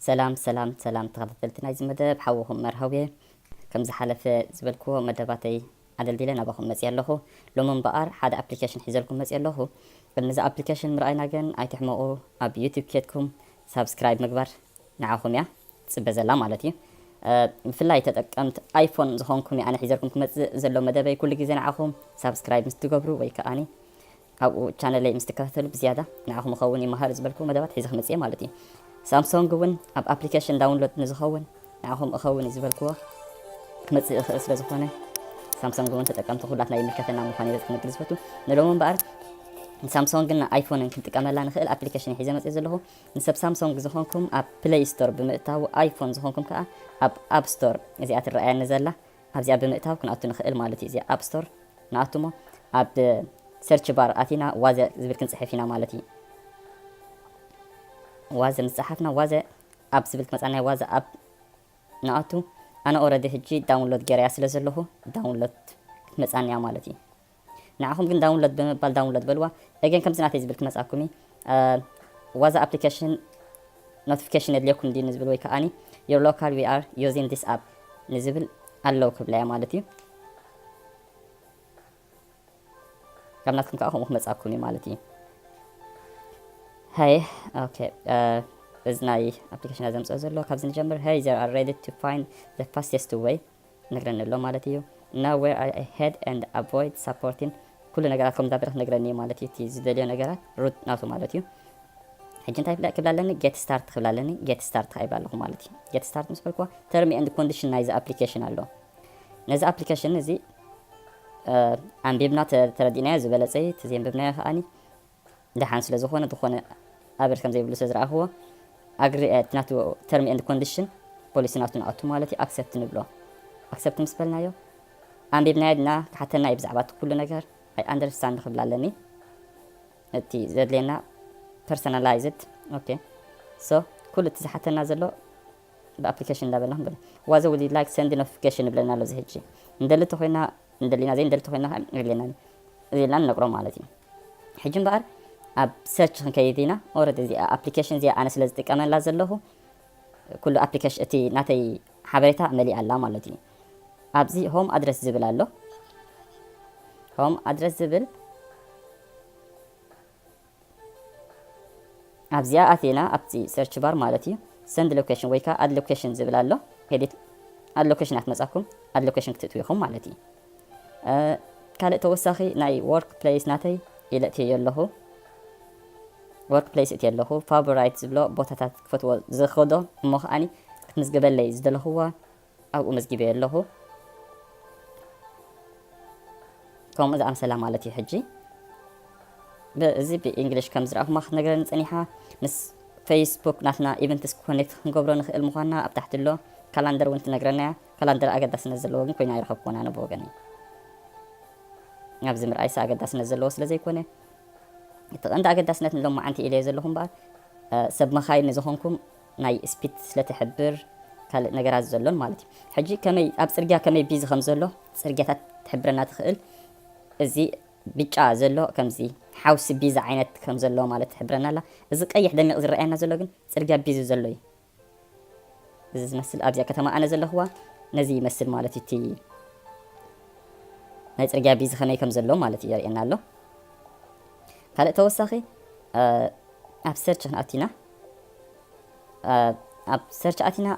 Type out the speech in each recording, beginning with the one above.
ሰላም ሰላም ሰላም ተኸታተልቲ ናይዚ መደብ ሓውኹም መርሃውየ ከም ዝሓለፈ ዝበልክዎ መደባተይ ኣደልዲለ ናባኹም መፅየ ኣለኹ ሎሚ እምበኣር ሓደ ኣፕሊኬሽን ሒዘልኩም መፅየ ኣለኹ ቅድሚ እዚ ኣፕሊኬሽን ምርኣይና ግን ኣይትሕመቑ ኣብ ዩቲብ ኬድኩም ሳብስክራይብ ምግባር ንዓኹም እያ ትጽበ ዘላ ማለት እዩ ብፍላይ ተጠቀምት ኣይፎን ዝኾንኩም እየ ኣነ ሒዘልኩም ክመጽእ ዘሎ መደበይ ኩሉ ግዜ ንዓኹም ሳብስክራይብ ምስ ትገብሩ ወይ ከኣኒ ኣብኡ ቻነለይ ምስ ትከታተሉ ብዝያዳ ንዓኹም ይኸውን ይመሃር ዝበልኩ መደባት ሒዘ ክመጽእ እየ ማለት እዩ ሳምሶንግ እውን ኣብ ኣፕሊኬሽን ዳውንሎድ ንዝኸውን ንዓኹም እኸውን እዩ ዝበልክዎ ክመጽእ ይኽእል ስለ ዝኾነ ሳምሶንግ እውን ተጠቀምቲ ኩላትና ይምልከተና ምዃን እየ ክንግል ዝፈቱ ንሎሚ እምበኣር ሳምሶንግን ኣይፎንን ክንጥቀመላ ንኽእል ኣፕሊኬሽን ሒዘ መጽእ ዘለኹ ንሰብ ሳምሶንግ ዝኾንኩም ኣብ ፕለይ ስቶር ብምእታው ኣይፎን ዝኾንኩም ከኣ ኣብ ኣብ ስቶር እዚኣ ትረኣየኒ ዘላ ኣብዚኣ ብምእታው ክንኣቱ ንኽእል ማለት እዩ እዚኣ ኣብ ስቶር ንኣቱ እሞ ኣብ ሰርች ባር ኣቲና ዋዘ ዝብል ክንጽሕፍ ኢና ማለት እዩ ዋዘ ምስ ጸሓፍና ዋዘ ኣብ ዝብል ክመጻና ዋዘ ኣብ ንኣቱ ኣነ ኦረዲ ሕጂ ዳውንሎድ ገረያ ስለ ዘለኹ ዳውንሎድ ክትመጻኒ እያ ማለት እዩ ንዓኹም ግን ዳውንሎድ ብምባል ዳውንሎድ በልዋ ኤገን ከምዚ ናተይ ዝብል ክመጻኩም እዪ ዋዛ ኣፕሊከሽን ኖቲፊኬሽን የድልየኩም ድዩ ንዝብል ወይ ከኣኒ ዮር ሎካል ዊ ኣር ዩዚን ዲስ ኣፕ ንዝብል ኣለው ክብላ እያ ማለት እዩ ካብ ናትኩም ከዓ ከምኡ ክመጻኩም እዩ ማለት እዩ ሃይ ኦኬ እዚ ናይ ኣፕሊኬሽን ዘምፅኦ ዘሎ ካብዚ ንጀምር ሃይ ዘር ኣር ሬዲ ቱ ፋይንድ ዘ ፋስተስት ወይ ነግረኒ ኣሎ ማለት እዩ Now where are I head and avoid supporting ኩሉ ነገራት ከም ዛብርኽ ነግረኒ እዩ ማለት እዩ እቲ ዝደልዮ ነገራት ሩት ናቱ ማለት እዩ ሕጂ እንታይ ክብላ ኣለኒ ጌት ስታርት ክብላ ኣለኒ ጌት ስታርት ከዓ ይብላ ኣለኹ ማለት እዩ ጌት ስታርት ምስ በልኩዋ ተርሚ ኤንድ ኮንዲሽን ናይዚ ኣፕሊኬሽን ኣሎ ነዚ ኣፕሊኬሽን እዚ ኣንቢብና ተረዲእናዮ ዝበለፀ እዩ እቲ ዘንብብናዮ ከዓኒ ደሓን ስለ ዝኾነ ዝኾነ ኣበር ከም ዘይብሉ ስለ ዝረኣኽዎ ኣግሪ እቲ ናቱ ተርም ኤንድ ኮንዲሽን ፖሊሲ ናቱ ንኣቱ ማለት እዩ ኣክሰፕት ንብሎ ኣክሰፕት ምስ በልናዮ ኣንቢብናዮ ድና ክሓተና እዩ ብዛዕባ እቲ ኩሉ ነገር ኣይ ኣንደርስታንድ ክብል ኣለኒ እቲ ዘድልየና ፐርሰናላይዝድ ኦኬ ሶ ኩሉ እቲ ዝሓተና ዘሎ ብኣፕሊኬሽን እንዳበልና ክንብል ዋዘ ውድ ላይክ ሰንድ ኖቲፊኬሽን ይብለና ኣሎ እዚ ሕጂ ንደሊ ተኮይና እንደሊና ዘይንደሊ እንተኾይና ከ የድልየናን እዩ እዚ ኢልና ንነግሮም ማለት እዩ ሕጂ እምበኣር ኣብ ሰርች ክንከይድ ኢና ኦረዲ እዚኣ ኣፕሊኬሽን እዚኣ ኣነ ስለ ዝጥቀመላ ዘለኹ ኩሉ ኣፕሊኬሽን እቲ ናተይ ሓበሬታ መሊኣ ኣላ ማለት እዩ ኣብዚ ሆም ኣድረስ ዝብል ኣሎ ሆም ኣድረስ ዝብል ኣብዚኣ ኣቲና ኣብቲ ሰርች ባር ማለት እዩ ሰንድ ሎኬሽን ወይ ከኣ ኣድ ሎኬሽን ዝብል ኣሎ ኤዲት ኣድ ሎኬሽን እያ ትመጻኩም ኣድ ሎኬሽን ክትእትው ኢኹም ማለት እዩ ካልእ ተወሳኺ ናይ ወርክ ፕሌስ ናተይ ኢለ እትየዮ ኣለኹ ወርክ ፕሌስ እትየ ኣለኹ ፋቮራይት ዝብሎ ቦታታት ክፈትዎ ዝኸዶ እሞ ከዓኒ ክትምዝግበለይ ዝደለኹዋ ኣብኡ መዝጊበዮ ኣለኹ ከምኡ ዝኣምሰላ ማለት እዩ ሕጂ እዚ ብእንግሊሽ ከም ዝረኣኹማ ክትነግረኒ ጸኒሓ ምስ ፌስቡክ ናትና ኢቨንትስ ኮኔክት ክንገብሮ ንኽእል ምዃንና ኣብ ታሕቲ ኣሎ ካላንደር እውን ትነግረና እያ ካላንደር ኣገዳስነት ዘለዎ ግን ኮይና ኣይረኸብኩዎን ኣነ ብወገነይ ኣብዚ ምርኣይሰ ኣገዳስነት ዘለዎ ስለ ዘይኮነ እቲ ቀንዲ ኣገዳስነት ንሎማዓንቲ ኢለዮ ዘለኹ እምበኣር ሰብ መኻይን ንዝኾንኩም ናይ ስፒት ስለ ትሕብር ካልእ ነገራት ዘሎን ማለት እዩ ሕጂ ከመይ ኣብ ጽርግያ ከመይ ቢዚ ከም ዘሎ ጽርግያታት ትሕብረና ትኽእል እዚ ብጫ ዘሎ ከምዚ ሓውሲ ቢዚ ዓይነት ከም ዘሎ ማለት ትሕብረና ኣላ እዚ ቀይሕ ደሚቕ ዝረኣየና ዘሎ ግን ጽርግያ ቢዚ ዘሎ እዩ እዚ ዝመስል ኣብዚኣ ከተማ ኣነ ዘለኹዋ ነዚ ይመስል ማለት እዩ እቲ ናይ ፅርግያ ቢዚ ከመይ ከም ዘሎ ማለት እዩ የርእየና ኣሎ ካልእ ተወሳኺ ኣብ ሰርች ክንኣቲና ኣብ ሰርች ኣቲና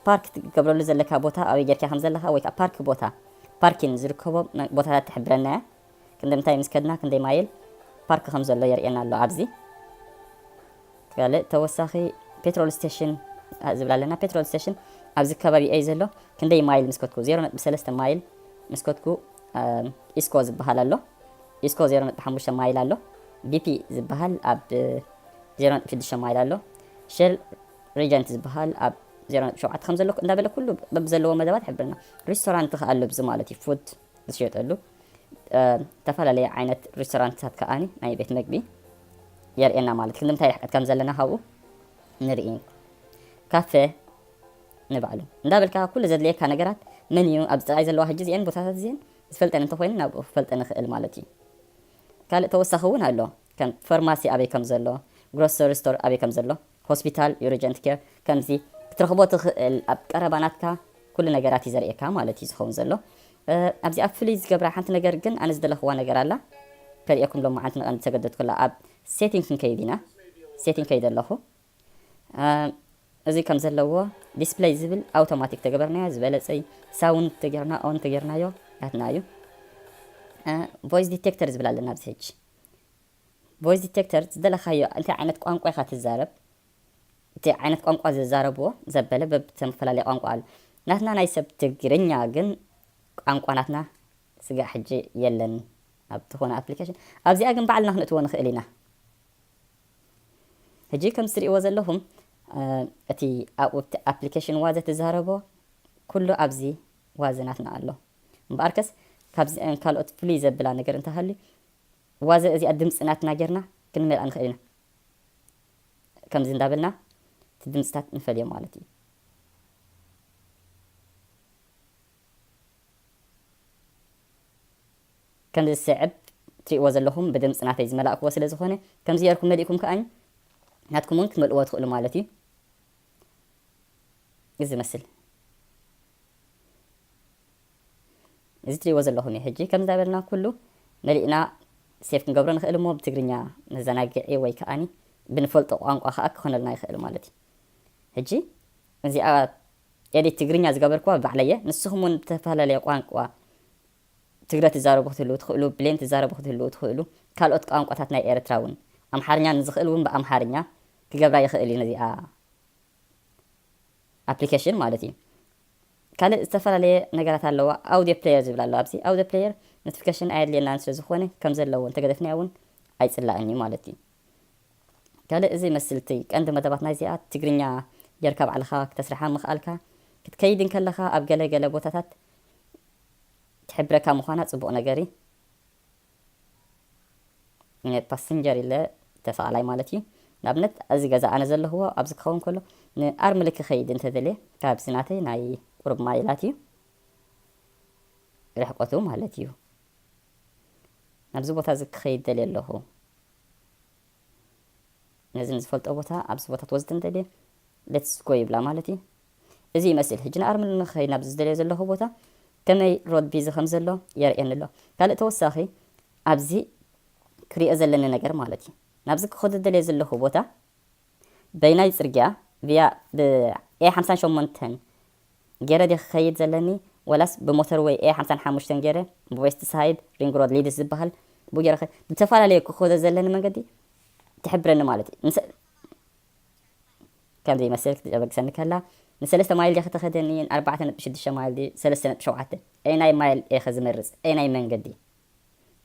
ፓርክ ትገብረሉ ዘለካ ቦታ ኣበይ ጌርካ ከም ዘለካ ወይ ከዓ ፓርክ ቦታ ፓርኪን ዝርከቦ ቦታታት ትሕብረና እያ ክንደምታይ ምስ ከድና ክንደይ ማይል ፓርክ ከም ዘሎ የርእየና ኣሎ ኣብዚ ካልእ ተወሳኺ ፔትሮል ስቴሽን ዝብላ ኣለና ፔትሮል ስቴሽን ኣብዚ ከባቢ እዩ ዘሎ ክንደይ ማይል ምስ ከድኩ 0.3 ማይል ምስ ከድኩ ኢስኮ ዝበሃል ኣሎ ኢስኮ ዜሮ ነጥቢ ሓሙሽተ ማይል ኣሎ። ቢፒ ዝበሃል ኣብ ዜሮ ነጥቢ ሽዱሽተ ማይል ኣሎ። ሼል ሪጀንት ዝበሃል ኣብ ዜሮ ነጥቢ ሸውዓተ ከም ዘሎ እንዳበለ ኩሉ በብዘለዎ መደባት ይሕብረና። ሪስቶራንት ከኣ ኣሎ ብዚ ማለት እዩ ፉድ ዝሽየጠሉ ዝተፈላለየ ዓይነት ሪስቶራንትታት ከኣኒ ናይ ቤት መግቢ የርእየና ማለት ክንምንታይ ርሕቀት ከም ዘለና ካብኡ ንርኢ ካፌ ንባዕሉ እንዳበልካ ኩሉ ዘድልየካ ነገራት መንዩ ኣብዚ ጥራይ ዘለዋ ሕጂ እዚአን ቦታታት እዚአን ዝፈልጠን እንተኾይኑ ናብኡ ክፈልጠን ይኽእል ማለት እዩ። ካልእ ተወሳኺ እውን ኣሎ ከም ፈርማሲ ኣበይ ከም ዘሎ፣ ግሮሰሪ ስቶር ኣበይ ከም ዘሎ፣ ሆስፒታል፣ ዩርጀንት ኬር ከምዚ ክትረኽቦ ትኽእል ኣብ ቀረባ ናትካ ኩሉ ነገራት እዩ ዘርእየካ ማለት እዩ ዝኸውን ዘሎ። ኣብዚኣ ፍልይ ዝገብራ ሓንቲ ነገር ግን ኣነ ዝደለኽዋ ነገር ኣላ ከርእየኩም ሎማዓንቲ ንቐንዲ ዝተገደድኩላ ኣብ ሴቲንግ ክንከይድ ኢና ሴቲንግ ከይደ ኣለኹ። እዚ ከም ዘለዎ ዲስፕለይ ዝብል ኣውቶማቲክ ተገበርናዮ ዝበለጸ ዩ ሳውንድ ተገርና ኦን ተገርናዮ ናትና ዩ ቮይስ ዲቴክተር ዝብል ኣለና ኣብዚ ሕጂ ቮይስ ዲቴክተር ዝደለካዮ እንታይ ዓይነት ቋንቋ ኢካ ትዛረብ እቲ ዓይነት ቋንቋ ዘዛረብዎ ዘበለ በብተፈላለየ ቋንቋ ኣሎ ናትና ናይ ሰብ ትግርኛ ግን ቋንቋ ናትና ስጋዕ ሕጂ የለን ኣብ ትኾነ ኣፕሊኬሽን ኣብዚኣ ግን ባዕልና ክንእትዎ ንኽእል ኢና ሕጂ ከምቲ ትርእይዎ ዘለኹም እቲ ኣብ'ቲ ኣፕሊኬሽን ዋዘ ትዛረቦ ኩሉ ኣብዚ ዋዘ ናትና ኣሎ። እምበኣርከስ ካብዚኣን ካልኦት ፍልይ ዘብላ ነገር እንተሃልዩ ዋዘ እዚኣ ድምጺ ናትና ጌርና ክንመልኣ ንኽእል ኢና። ከምዚ እንዳበልና እቲ ድምጽታት ንፈልዮ ማለት እዩ። ከም ዝስዕብ ትሪእዎ ዘለኹም ብድምጽ ናተይ ዝመላእክዎ ስለ ዝኾነ ከምዚ ጌርኩም መሊእኩም ከኣ ናትኩም ውን ክትመልእዎ ትኽእሉ ማለት እዩ እዚ ዝመስል እዚ ትሪእዎ ዘለኹም እዩ ሕጂ ከምዚ እንዳበልና ኩሉ መሊእና ሴፍ ክንገብሮ ንኽእል እሞ ብትግርኛ መዘናግዒ ወይ ከኣ ብንፈልጦ ቋንቋ ከኣ ክኾነልና ይኽእል ማለት እዩ ሕጂ እዚኣ ኤዲት ትግርኛ ዝገበርክዋ ባዕለየ ንስኹም ውን ብተፈላለየ ቋንቋ ትግረ ትዛረቡ ክትህልዉ ትኽእሉ፣ ብሌን ትዛረቡ ክትህልዉ ትኽእሉ፣ ካልኦት ቋንቋታት ናይ ኤርትራ ውን። ኣምሓርኛ ንዝኽእል ውን ብኣምሓርኛ ክገብራ ይኽእል እዩ ነዚኣ ኣፕሊከሽን ማለት እዩ። ካልእ ዝተፈላለየ ነገራት ኣለዋ ኣውድዮ ፕለየር ዝብል ኣሎ ኣብዚ ኣውድዮ ፕለየር ኖትፍከሽን ኣየድልየናን ስለ ዝኾነ ከም ዘለዎ እንተገደፍናዮ ውን ኣይጽላእን እዩ ማለት እዩ። ካልእ እዚ ይመስል እቲ ቀንዲ መደባት ናይዚኣ ትግርኛ ጌርካ ባዕልኻ ክተስርሓ ምኽኣልካ ክትከይድ እንከለኻ ኣብ ገለ ገለ ቦታታት ትሕብረካ ምኳና ጽቡቅ ነገር እዪ ፓስንጀር ኢለ ተሰቃላይ ማለት እዩ ንኣብነት ኣዚ ገዛ ኣነ ዘለክዎ ኣብዚ ክከውን ከሎ ን ኣርምሊ ክከይድ እንተ ደልየ ካብዚ ናተይ ናይ ቁሩብ ማይላት እዩ ርሕቀቱ ማለት እዩ ናብዚ ቦታ እዚ ክከይድ ደልየ ኣለኩ ነዚ ንዝፈልጦ ቦታ ኣብዚ ቦታ ትወስድን ደልየ ሌትስ ጎ ይብላ ማለት እዩ እዚ ይመስል ሕጂ ንኣርምል ንክኸይድ ናብዚ ዝደልዮ ዘለኹ ቦታ ከመይ ሮድ ቢዚ ከምዘሎ የርእየኒ ኣሎ ካልእ ተወሳኺ ኣብዚ ክሪኦ ዘለኒ ነገር ማለት እዩ ናብዚ ክኸዶ ዝደልዮ ዘለኹ ቦታ በይናይ ጽርግያ ቪያ ብ ኤ ሓምሳን ሸሞንተን ጌረ ድየ ክኸይድ ዘለኒ ወላስ ብሞተር ወይ ኤ ሓምሳን ሓሙሽተን ጌረ ብዌስት ሳይድ ሪንግ ሮድ ሊድስ ዝበሃል ብኡ ጌረ ብተፈላለየ ክኸዶ ዘለኒ መንገዲ ትሕብረኒ ማለት እዩ ከም ዘይመስል ክትጨበግሰኒ ከላ፣ ንሰለስተ ማይል ዲኺ ተኸደኒ፣ ን ኣርባዕተ ነጥቢ ሽዱሽተ ማይል ድዩ ሰለስተ ነጥቢ ሸውዓተ፣ ኣየናይ ማይል እየኸ ዝመርጽ፣ ኣየናይ መንገዲ፣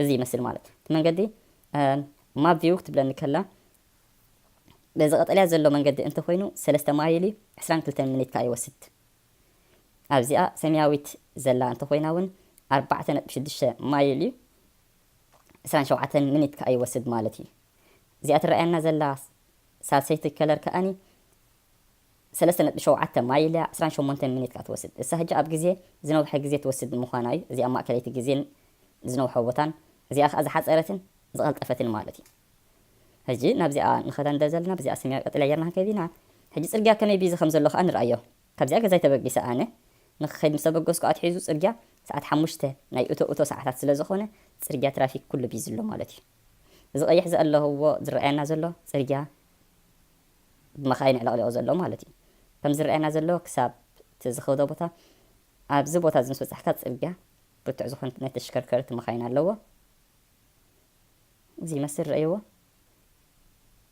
እዚ ይመስል ማለት እቲ መንገዲ ማፕ ቪው ክትብለኒ ከላ፣ በዚ ቀጠልያ ዘሎ መንገዲ እንተ ኾይኑ ሰለስተ ማይል እዩ፣ ዕስራን ክልተን ምኒት ከኣ ይወስድ፣ ኣብዚኣ ሰሚያዊት ዘላ እንተ ኾይና ውን ኣርባዕተ ነጥቢ ሽዱሽተ ማይል እዩ፣ ዕስራን ሸውዓተን ምኒት ከኣ ይወስድ ማለት እዩ፣ እዚኣ ትረኣየና ዘላ ሳልሰይቲ ከለር ከኣኒ ሰለስተ ነጥቢ ሸውዓተ ማይል እያ፣ ዕስራን ሸሞንተን ሚኒት ከኣ ትወስድ። እሳ ሕጂ ኣብ ግዜ ዝነውሐ ግዜ ትወስድ ብምዃና እዩ እዚኣ ማእከለይቲ ግዜን ዝነውሐ ቦታን እዚኣ ከኣ ዝሓጸረትን ዝቐልጠፈትን ማለት እዩ። ሕጂ ናብዚኣ ንኸዳ እንተ ዘለና ብዚኣ ሰማያዊ ቀጠልያ ኣየር ንሃከብ ኢና። ሕጂ ጽርግያ ከመይ ቢዚ ከም ዘሎ ከኣ ንርኣዮ። ካብዚኣ ገዛይ ተበጊሰ ኣነ ንክኸይድ ምስ ተበገስኩ ኣትሒዙ ጽርግያ ሰዓት ሓሙሽተ ናይ እቶ እቶ ሰዓታት ስለ ዝኾነ ጽርግያ ትራፊክ ኩሉ ቢዚ ኣሎ ማለት እዩ። እዚ ቀይሕ ዘእለህዎ ዝረኣየና ዘሎ ጽርግያ ብመኻይን ኣዕለቕሊቑ ዘሎ ማለት እዩ። ከም ዝረኣየና ዘሎ ክሳብ እቲ ዝኸዶ ቦታ ኣብዚ ቦታ እዚ ምስ በጻሕካ ጽርግያ ብርቱዕ ዝኾነት ናይ ተሽከርከርቲ መኻይን ኣለዎ። እዚ ይመስል ረእይዎ።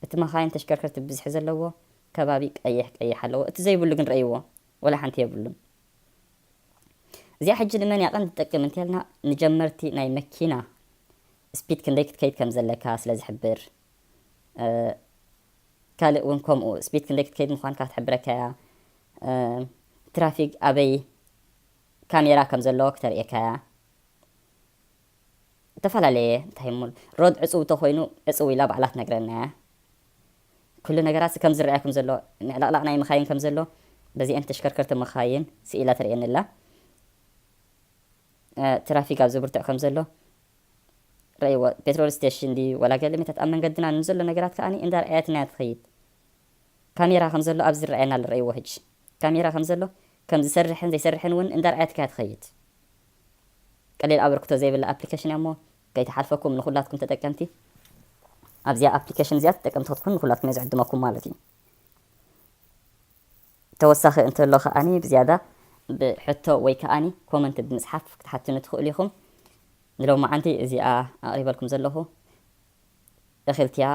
እቲ መኻይን ተሽከርከርቲ ብዝሒ ዘለዎ ከባቢ ቀይሕ ቀይሕ ኣለዎ እቲ ዘይብሉ ግን ረእይዎ ወላ ሓንቲ የብሉን እዚኣ ሕጂ ንመን እያ ቀንዲ ትጠቅም እንተልና ንጀመርቲ ናይ መኪና ስፒድ ክንደይ ክትከይድ ከም ዘለካ ስለ ዝሕብር ካልእ ውን ከምኡ ስፒድ ክንደይ ክትከይድ ምዃንካ ክትሕብረካ እያ ትራፊክ ኣበይ ካሜራ ከም ዘሎ ክተርእየካ እያ እተፈላለየ እንታይ እሞ ሮድ ዕጹው ተኾይኑ ዕጹው ኢላ ባዕላ ትነግረና እያ ኩሉ ነገራት ከም ዝረኣያ ከም ዘሎ ምዕልቕላቕ ናይ መኻይን ከም ዘሎ በዚኤን ተሽከርከርቲ መኻይን ስኢላ ተርእየኒ ኣላ ትራፊክ ኣብ ዘብርትዕ ከም ዘሎ ረእይዎ ፔትሮል ስቴሽን ድዩ ወላ ገለሜታት ኣብ መንገድና ንዘሎ ነገራት ከኣ እንዳ ረኣየትና እያ ትኸይድ ካሜራ ከም ዘሎ ኣብዚ ይረኣየና ኣሎ ረእይዎ ህጂ ካሜራ ከም ዘሎ ከም ዝሰርሕን ዘይሰርሕን እውን እንዳ ረኣየትካ እያ ትኸይድ ቀሊል ኣበርክቶ ዘይብላ ኣፕሊኬሽን እያ እሞ ከይትሓልፈኩም ንኹላትኩም ተጠቀምቲ ኣብዚኣ ኣፕሊኬሽን እዚኣ ተጠቀምቲ ክትኩኑ ንኹላትኩም እየ ዝዕድመኩም ማለት እዩ ተወሳኺ እንተሎ ከኣ ብዝያዳ ብ ሕቶ ወይ ከኣ ኮመንት ብምጽሓፍ ክትሓትኑ ትኽእሉ ኢኹም። ንሎምዓንቲ እዚኣ ኣቕሪበልኩም ዘለኹ እኽልቲ'ያ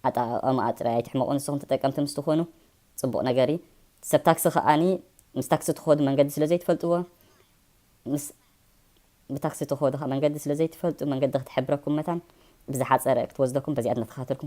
ኣጠቓቕማኣ ጥራይ ኣይትሕመቑ ንስኹም ተጠቀምቲ ምስ ትኾኑ ጽቡቕ ነገር እዩ። ሰብ ታክሲ ከኣ ምስ ታክሲ ትኸዱ መንገዲ ስለ ዘይትፈልጥዎ ምስ ብታክሲ ትኸዱ ከኣ መንገዲ ስለ ዘይትፈልጡ መንገዲ ክትሕብረኩም መታን ብዝሓጸረ ክትወስደኩም በዚኣ እናተኸታተልኩም